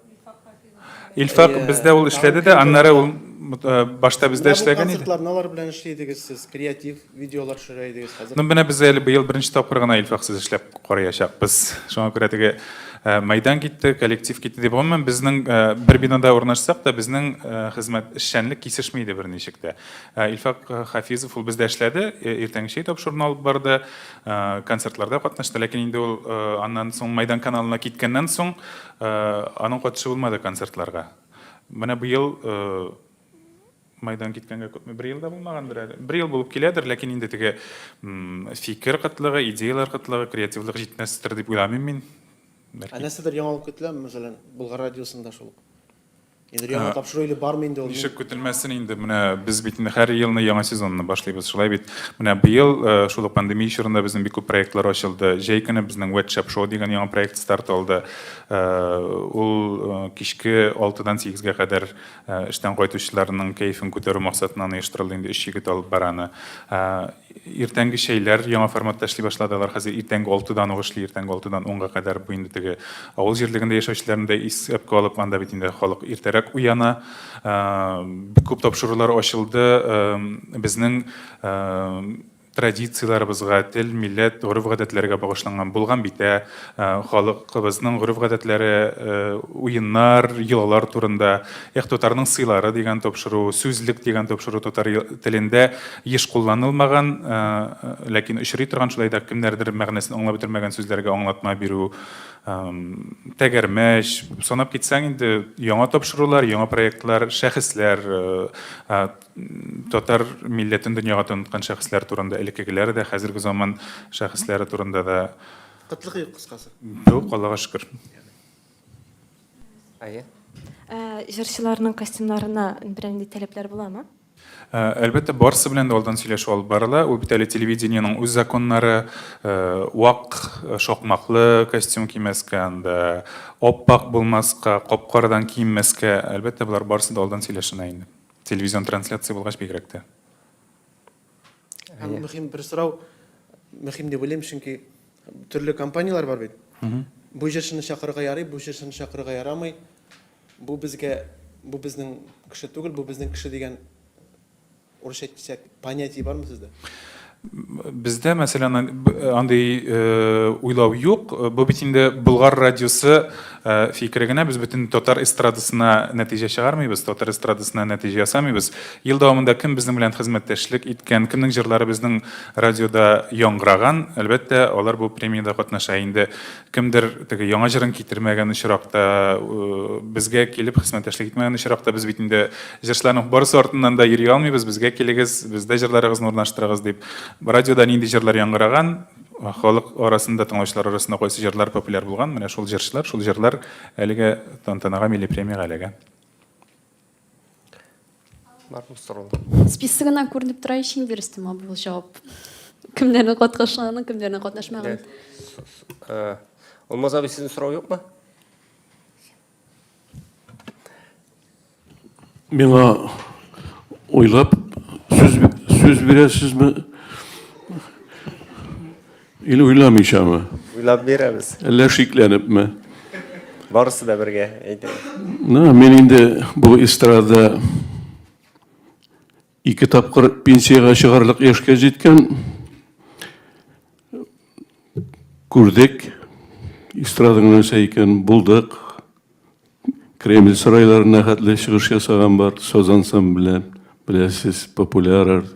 Илфак бездә ул эшләде дә, аннары ул э, башта бездә эшләгән иде. Концертларны алар белән эшли идегез сез, креатив видеолар төшерә идегез хәзер. Ну менә без әле быел беренче тапкыр гына Илфак сез эшләп караячакбыз. Шуңа күрә теге э, мәйдан китте, коллектив китте дип гомумән безнең э, бер бинада урнашсак та безнең хезмәт эшчәнлек кисешми иде берничек тә. Илфак Хафизов ул бездә эшләде, иртәнге чәй тапшыруны алып барды, концертларда катнашты, ләкин инде ул аннан соң мәйдан каналына киткәннән соң Аның катышы булмады концертларга. Менә быел майдан киткәнгә күпме бер ел да булмагандыр әле. Бер ел булып киләдер, ләкин инде теге фикер кытлыгы, идеяләр кытлыгы, креативлык җитмәстер дип уйламыйм мин. Ә нәрсәдер яңалык көтеләме, мәсәлән, Болгар радиосында шул ук? Инде яңа тапшыру или бармы инде ул? Ничек көтелмәсен инде, менә без бит инде һәр елны яңа сезонны башлыйбыз, шулай бит. Менә быел шул ук пандемия чорында безнең бик күп проектлар ачылды. Җәй көне безнең Wet Shop Show дигән яңа проект старт алды. Ул кичке алтыдан сигезгә кадәр эштән кайтучыларның кәефен күтәрү максатыннан оештырылды, инде өч егет алып бара аны. Иртәнге чәйләр яңа форматта эшли башлады. Алар хәзер иртәнге алтыдан ук эшли, иртәнге алтыдан унга кадәр. Бу инде теге авыл җирлегендә яшәүчеләрне дә исәпкә алып, анда бит инде халык иртәрәк уяна. Бик күп тапшырулар ачылды. Безнең традицияләребезгә, тел, милләт, гореф-гадәтләргә багышланган булган битә, Ә, халыкыбызның гореф-гадәтләре, э, уеннар, йолалар турында, эх, татарның сыйлары дигән тапшыру, сүзлек дигән тапшыру татар телендә еш кулланылмаган, э, ләкин очрый торган, шулай да кемнәрдер мәгънәсен аңлап бетермәгән сүзләргә аңлатма бирү, тәгәрмәч, санап китсәң инде яңа тапшырулар, яңа проектлар, шәхесләр, э, Татар милләтен дөньяга таныткан шәхесләр турында, элеккегеләр дә, хәзерге заман шәхесләре турында да. Кытлык юк, кыскасы. Юк, Аллага шөкер. Әйе. Җырчыларның костюмнарына бернинди таләпләр буламы? Әлбәттә, барысы белән дә алдан сөйләшү алып барыла. Ул бит әле телевидениенең үз законнары, вак шакмаклы костюм кимәскә, анда ап-ак булмаска, кап-карадан киенмәскә. Әлбәттә, болар барысы да алдан сөйләшенә инде. Телевизион трансляция булгач бигрәк тә. Һәм мөһим бер сорау, мөһим дип уйлыйм, чөнки төрле компанияләр бар бит. Бу җырчыны чакырырга ярый, бу җырчыны чакырырга ярамый. Бу безгә, бу безнең кеше түгел, бу безнең кеше дигән, урысча әйтсәк, Понятие бармы сездә? Бездә, мәсәлән, андый уйлау юк. Бу бит инде Болгар радиосы фикере генә. Без бөтен татар эстрадасына нәтиҗә чыгармыйбыз, татар эстрадасына нәтиҗә ясамыйбыз. Ел дәвамында кем безнең белән хезмәттәшлек иткән, кемнең җырлары безнең радиода яңгыраган, әлбәттә, алар бу премиядә катнаша. Инде Кемдер теге яңа җырын китермәгән очракта, э, безгә килеп хезмәттәшлек итмәгән очракта без бит инде җырчыларның барысы артыннан да йөри алмыйбыз, безгә килегез, бездә җырларыгызны урнаштырыгыз дип. Радиода нинди җырлар яңгыраган, халык арасында, тыңлаучылар арасында кайсы җырлар популяр булган, менә шул җырчылар, шул җырлар әлегә тантанага, милли премиягә эләгә. Барлык сораулар. Списогыннан күренеп тора ич инде, Рөстәм абый, ул җавап. Кемнәрнең катнашканын, кемнәрнең катнашмаганын. Э, Алмаз абый, сезнең сорау юкмы? Миңа уйлап сүз сүз бирәсезме? Или уйламыйчамы? Уйлап бирәбез. Әллә шикләнепме? Барысы да бергә әйтә. Ну, мин инде бу эстрада ике тапкыр пенсиягә чыгарлык яшькә җиткән. Күрдек, эстраданың нәрсә икәнен булдык. Кремль сарайларына хәтле чыгыш ясаган бар саз ансамбле, беләсез, популяр.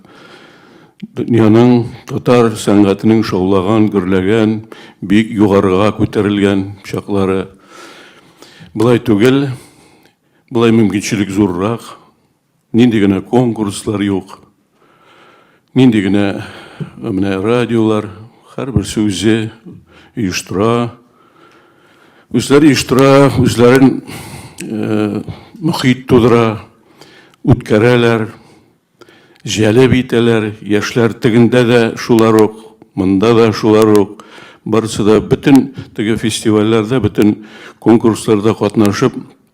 Дөньяның татар сәнгатенең шаулаган, гөрләгән, бик югарыга күтәрелгән чаклары. Былай түгел, былай мөмкинчелек зуррак. Нинди генә конкурслар юк, нинди генә менә радиолар, һәрберсе үзе оештыра, үзләре оештыра, үзләрен э, мөхит тудыра, үткәрәләр, җәлеп итәләр, яшьләр тегендә дә шулар ук, монда да шулар ук, барысы да бөтен теге фестивальләрдә, бөтен конкурсларда катнашып,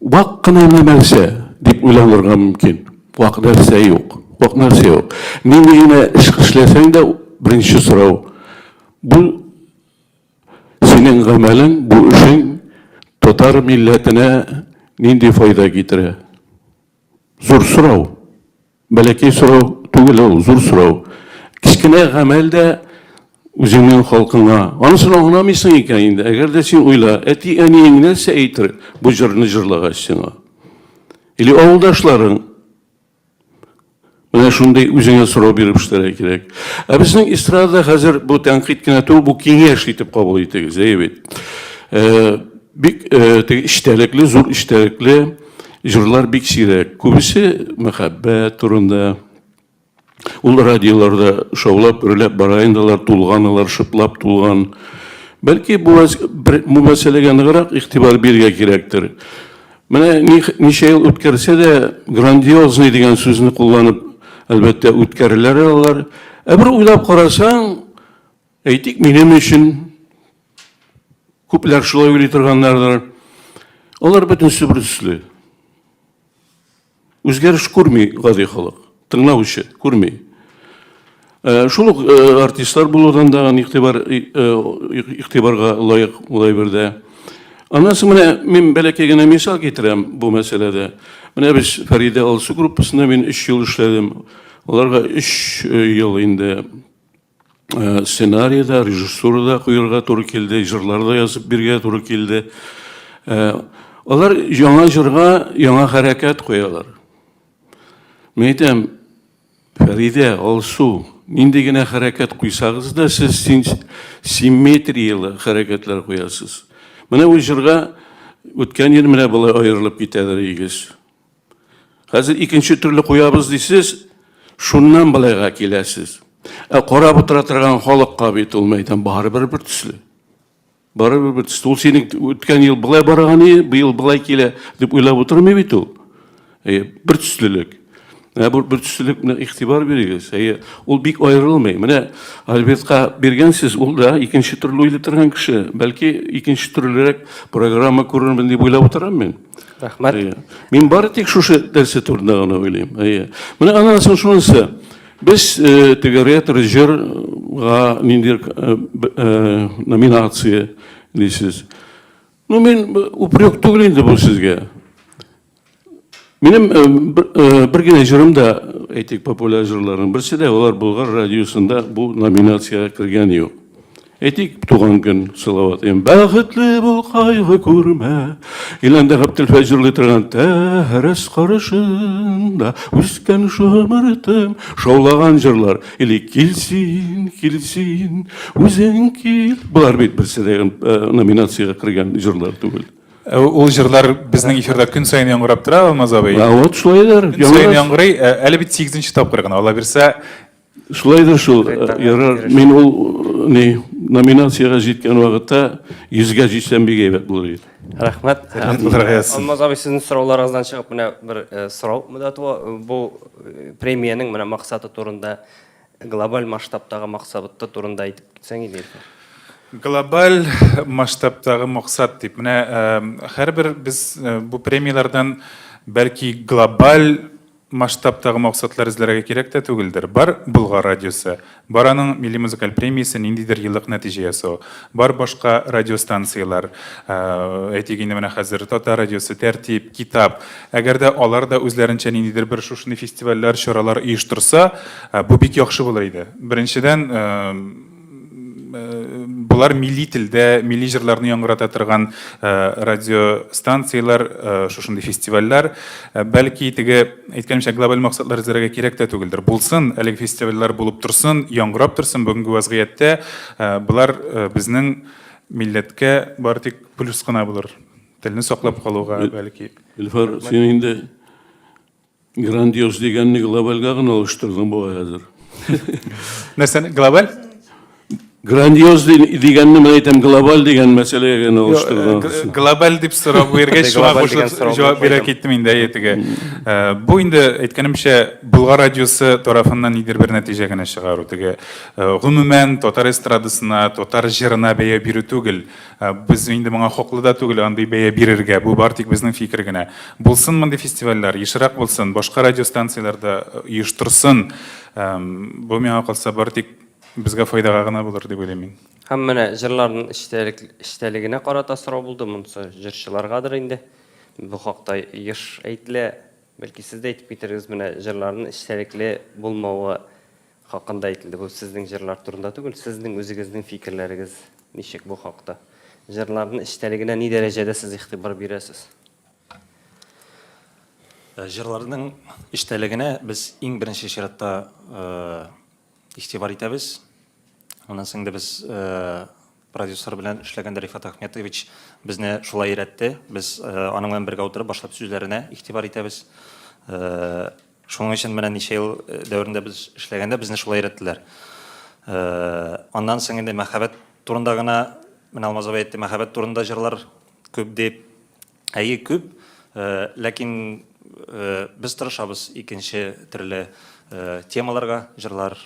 Вак кына гына нәрсә дип уйланырга мөмкин. Вак нәрсә юк. Вак нәрсә юк. Нинди генә эш эшләсәң дә, беренче сорау. Бу синең гамәлең, бу эшең татар милләтенә нинди файда китерә? Зур сорау. Бәләкәй сорау түгел ул, зур сорау. Кечкенә гамәл дә үзеңнең халкыңа. Анысына аңламыйсың икән инде. Әгәр дә син уйла, әти-әниең нәрсә әйтер бу җырны җырлагач сиңа? Или авылдашларың? Менә шундый үзеңә сорау биреп эшләргә кирәк. Ә безнең эстрадада хәзер бу тәнкыйть кенә түгел, бу киңәш итеп кабул итегез, әйе бит? Бик теге эчтәлекле, зур эчтәлекле. Җырлар бик сирәк. Күбесе мәхәббәт турында. Ул радиоларда шаулап, гөрләп бара инде алар, тулган алар, шыплап тулган. Бәлки бу мәсьәләгә ныграк игътибар бирергә кирәктер. Менә ничә ел үткәрсә дә, грандиозный дигән сүзне кулланып, әлбәттә, үткәрәләр алар. Ә бер уйлап карасаң, Әйтик, минем өчен күпләр шулай уйлый торганнардыр. Алар бөтенесе бер төсле. Үзгәреш күрми гади халык, тыңлаучы күрми. Э, шул ук э, артистлар булудан да игътибар э, игътибарга лаек була бердә. Аннан соң менә мин бәләкәй генә мисал китерәм бу мәсьәләдә. Менә без Фәридә Алсу группасында мин 3 ел эшләдем. Аларга 3 ел инде Э, сценарий да, режиссура да куярга туры килде, җырлар да язып биргә туры килде. Э, алар яңа җырга яңа хәрәкәт куялар. Мин әйтәм, Фәридә, Алсу, нинди генә хәрәкәт куйсагыз да, сез симметрияле хәрәкәтләр куясыз. Менә бу җырга үткән ел менә болай аерылып китәдер игез. Хәзер икенче төрле куябыз дисез, шуннан былайга киләсез. Ә карап утыра торган халыкка бит ул мәйдан барыбер бер төсле. Барыбер бер төсле. Ул синең үткән ел былай барган ие, быел былай килә дип уйлап утырмый бит ул. Әйе, бер төслелек. Ә бу бер төслелек менә игътибар бирегез. Әйе, ул бик аерылмый. Менә Альбертка биргәнсез, ул да икенче төрле уйлый торган кеше. Бәлки икенче төрлерәк программа күрермен дип уйлап утырам мин. Рәхмәт. Әйе. Мин бары тик шушы нәрсә турында гына уйлыйм. Әйе. Менә аннан соң шунысы. Без э, теге ретро җырга ниндидер э, э, номинация дисез. Ну, мин упрек түгел инде бу сезгә. Минем бер генә җырым да, әйтик, популяр җырларның берсе дә, алар Болгар радиосында бу номинациягә кергән юк. Әйтик, туган көн сылават. Бәхетле бул, кайгы күрмә. Иләндә Габделфәй җырлый торган тәрәс карышында үскән шомыртым шаулаган җырлар. Или килсин, килсин, үзең кил. Болар бит берсе дә э, номинациягә кергән җырлар түгел. Э, ул җырлар безнең эфирда көн саен яңгырап тора, Алмаз абый. А вот шулайдыр. Көн саен яңгырый. Э, әле бит 8 тапкыр гына. Алла бирсә, Шулайдыр шул, ярар. Мин ул ни номинациягә җиткән вакытта 100гә җитсәм бик әйбәт булыр иде. Рәхмәт. Алмаз абый, сезнең сорауларыгыздан чыгып менә бер сорау монда туа. Бу премиянең менә максаты турында, глобаль масштабтагы максаты турында әйтеп китсәң иде. Глобаль масштабтагы максат дип, менә һәрбер без бу премияләрдән бәлки глобаль масштабтагы максатлар эзләргә кирәк тә түгелдер. Бар Болгар радиосы, бар аның милли музыкаль премиясе, ниндидер еллык нәтиҗә ясау, бар башка радиостанцияләр, әйтик инде менә хәзер Татар радиосы, Тәртип, Китап. Әгәр дә алар да үзләренчә ниндидер бер шушындый фестивальләр, чаралар оештырса, бу бик яхшы булыр иде. Беренчедән, Болар милли телдә, милли җырларны яңгырата торган радиостанцияләр, шушындый фестивальләр. Бәлки теге әйткәнемчә глобаль максатлар эзләргә кирәк тә түгелдер. Булсын, әлеге фестивальләр булып торсын, яңгырап торсын. Бүгенге вәзгыятьтә болар безнең милләткә бары тик плюс кына булыр. Телне саклап калуга бәлки. Илфар, син инде Грандиоз дигәнне глобальга гына алыштырдың бугай хәзер. Нәрсәне глобаль? Грандиоз дигәнне мен әйтәм, глобаль дигән мәсьәләгә генә алыштырдың. Э, глобаль дип сорап биргәч, шуңа кушылып җавап бирә киттем инде әйтегә. Э, бу инде әйткәнемчә, Болгар радиосы тарафыннан нидер бер нәтиҗә генә чыгару теге. Э, гомумән, татар эстрадасына, татар җырына бәя бирү түгел. Ә, без инде моңа хаклы да түгел андый бәя бирергә. Бу бар тик безнең фикер генә. Булсын мондый фестивальләр, ешрак булсын, башка радиостанцияләр дә оештырсын. Бу миңа калса бар тик безгә файдага гына булыр дип уйлыйм мин. Һәм менә җырларның эчтәлек эчтәлегенә карата сорау булды, монысы җырчыларгадыр инде. Бу хакта еш әйтелә. Бәлки сез дә әйтеп китерегез, менә җырларның эчтәлекле булмавы Хакында әйтелде. Бу сезнең җырлар турында түгел, сезнең үзегезнең фикерләрегез ничек бу хакта? Җырларның эчтәлегенә ни дәрәҗәдә сез игътибар бирәсез? Җырларның эчтәлегенә без иң беренче чиратта игътибар итәбез. Аннан соң инде без Продюсер белән эшләгәндә Рифат Ахметович безне шулай өйрәтте. Без аның белән бергә утырып башлап сүзләренә игътибар итәбез. Шуның өчен менә ничә ел дәверендә без эшләгәндә безне шулай өйрәттеләр. Аннан соң инде мәхәббәт турында гына, менә Алмаз абый әйтте, мәхәббәт турында җырлар күп дип. Әйе, күп. Ләкин без тырышабыз икенче төрле темаларга җырлар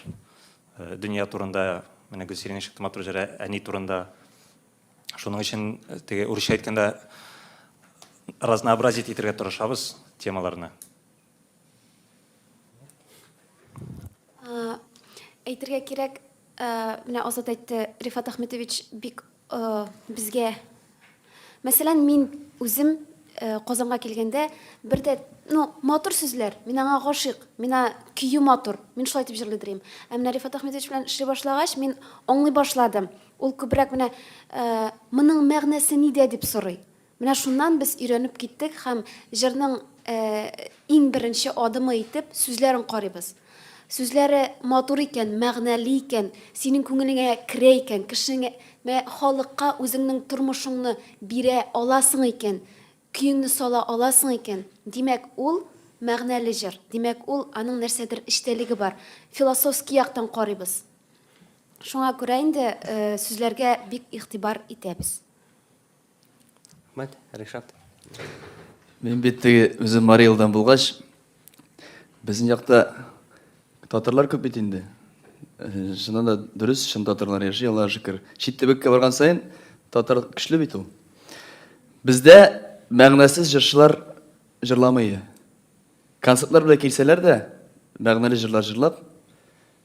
Дөнья турында менә Гөлсиринең чыкты матур җыры әни турында. Шуның өчен теге урысча әйткәндә разнообразить итергә тырышабыз темаларны. Әйтергә кирәк, менә Азат әйтте, Рифат Ахметович бик Безгә, мәсәлән, мин үзем Казанга килгәндә бер дә, ну, матур сүзләр, мин аңа гашыйк, мин көю матур, мин шулай дип җырлый дөрим. Ә менә Рифат Ахмедович белән эшли башлагач, мин аңлый башладым. Ул күбрәк менә моның мәгънәсе нидә дип сорый. Менә шуннан без өйрәнеп киттек һәм җырның иң беренче адымы итеп сүзләрен карыйбыз. Сүзләре матур икән, мәгънәле икән, синең күңелеңә керә икән, кешеңә, мә, халыкка үзеңнең тормышыңны бирә аласың икән, көеңне сала аласың икән, димәк, ул мәгънәле җыр, димәк, ул аның нәрсәдер эчтәлеге бар. Философский яктан карыйбыз. Шуңа күрә инде сүзләргә бик игътибар итәбез. Рәхмәт, Ришат. Мин бит теге үзем Марий Элдан булгач, безнең якта татарлар күп бит инде. Э, чыннан да дөрес, чын татарлар яши, Аллаһ шөкер. Чит төбәккә барган саен татар көчле бит ул. Бездә мәгънәсез җырчылар җырламый. Концертлар белән килсәләр дә, мәгънәле җырлар җырлап,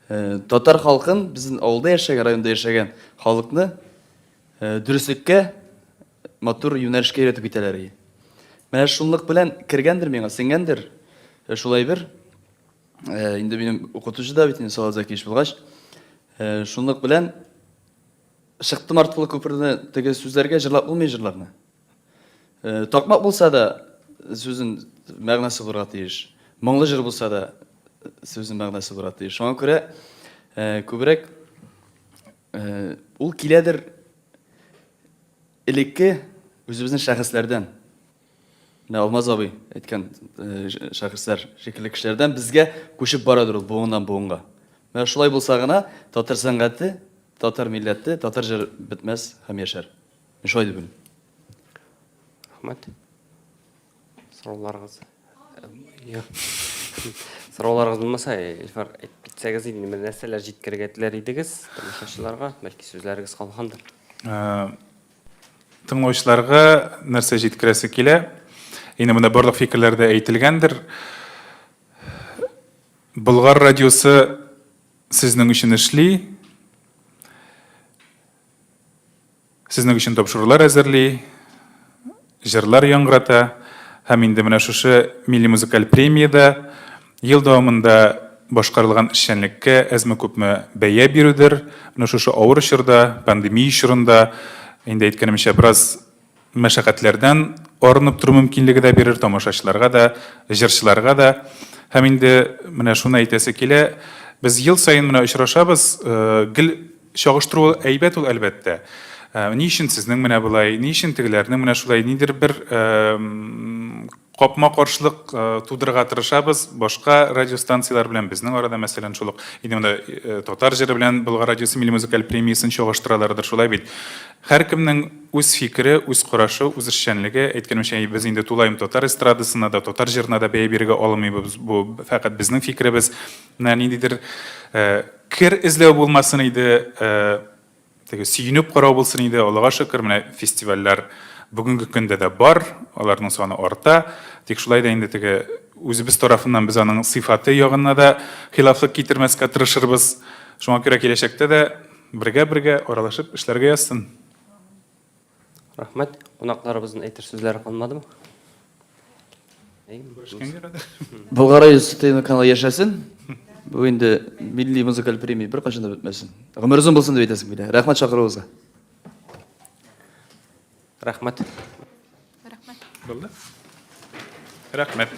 э, татар халкын, безнең авылда яшәгән, районда яшәгән халыкны Дөреслеккә матур юнәлешкә өйрәтеп китәләр и. Менә шунлык белән кергәндер миңа, сеңгәндер шул әйбер. Инде минем укытучы да бит инде Салат Закиевич булгач, шунлык белән чыктым арткылы күперне теге сүзләргә җырлап булмый җырларны. Такмак булса да сүзен мәгънәсе булырга тиеш. Моңлы җыр булса да сүзен мәгънәсе булырга тиеш. Шуңа күрә күбрәк Ул киләдер элекке үзебезнең шәхесләрдән. Менә Алмаз абый әйткән шәхесләр шикелле кешеләрдән безгә күчеп барадыр ул буыннан буынга. Менә шулай булса гына татар сәнгате, татар милләте, татар җыр бетмәс һәм яшәр. Мин шулай дип уйлыйм. Рәхмәт. Сорауларыгыз. Сорауларыгыз булмаса, Илфар, әйтеп китсәгез инде, менә нәрсәләр җиткерергә теләр идегез тамашачыларга, бәлки сүзләрегез калгандыр. Тыңлаучыларга нәрсә җиткерәсе килә? Инде монда барлык фикерләр дә әйтелгәндер. Болгар радиосы сезнең өчен эшли. Сезнең өчен тапшырулар әзерли, җырлар яңгырата һәм инде менә шушы милли музыкаль премиядә ел дәвамында башкарылган эшчәнлеккә әзме-күпме бәя бирүдер. Менә шушы авыр чорда, пандемия чорында, инде әйткәнемчә, бераз мәшәкатьләрдән арынып тору мөмкинлеге дә бирер тамашачыларга да, җырчыларга да. Һәм инде менә шуны әйтәсе килә, без ел саен менә очрашабыз, гел. Чагыштыру әйбәт ул, әлбәттә. Ни өчен сезнең менә болай, ни өчен тегеләрнең менә шулай, нидер бер капма-каршылык тудырырга тырышабыз, башка радиостанцияләр белән безнең арада, мәсәлән, шул ук инде монда татар җыры белән Болгар радиосы милли музыкаль премиясен чагыштыралардыр, шулай бит. Һәркемнең үз фикере, үз карашы, үз эшчәнлеге. Әйткәнемчә, без инде тулаем татар эстрадасына да, татар җырына да бәя бирергә алмыйбыз, бу фәкать безнең фикеребез. Менә ниндидер Кер эзләү булмасын иде, теге сөенеп карау булсын иде. Аллага шөкер, менә фестивальләр бүгенге көндә дә бар, аларның саны арта. Тик шулай да инде теге үзебез тарафыннан без аның сыйфаты ягына да хилафлык китермәскә тырышырбыз. Шуңа күрә киләчәктә дә бергә-бергә аралашып эшләргә язсын. Рәхмәт. Кунакларыбызның әйтер сүзләре калмадымы? Күрешкәнгә кадәр. Болгар радиосы ТВ каналы яшәсен. Бу инде милли музыкаль премия беркайчан да бетмәсен. Гомер озын булсын дип әйтәсем килә. Рәхмәт чакыруыгызга. Рәхмәт. Рәхмәт. Булды. Рәхмәт.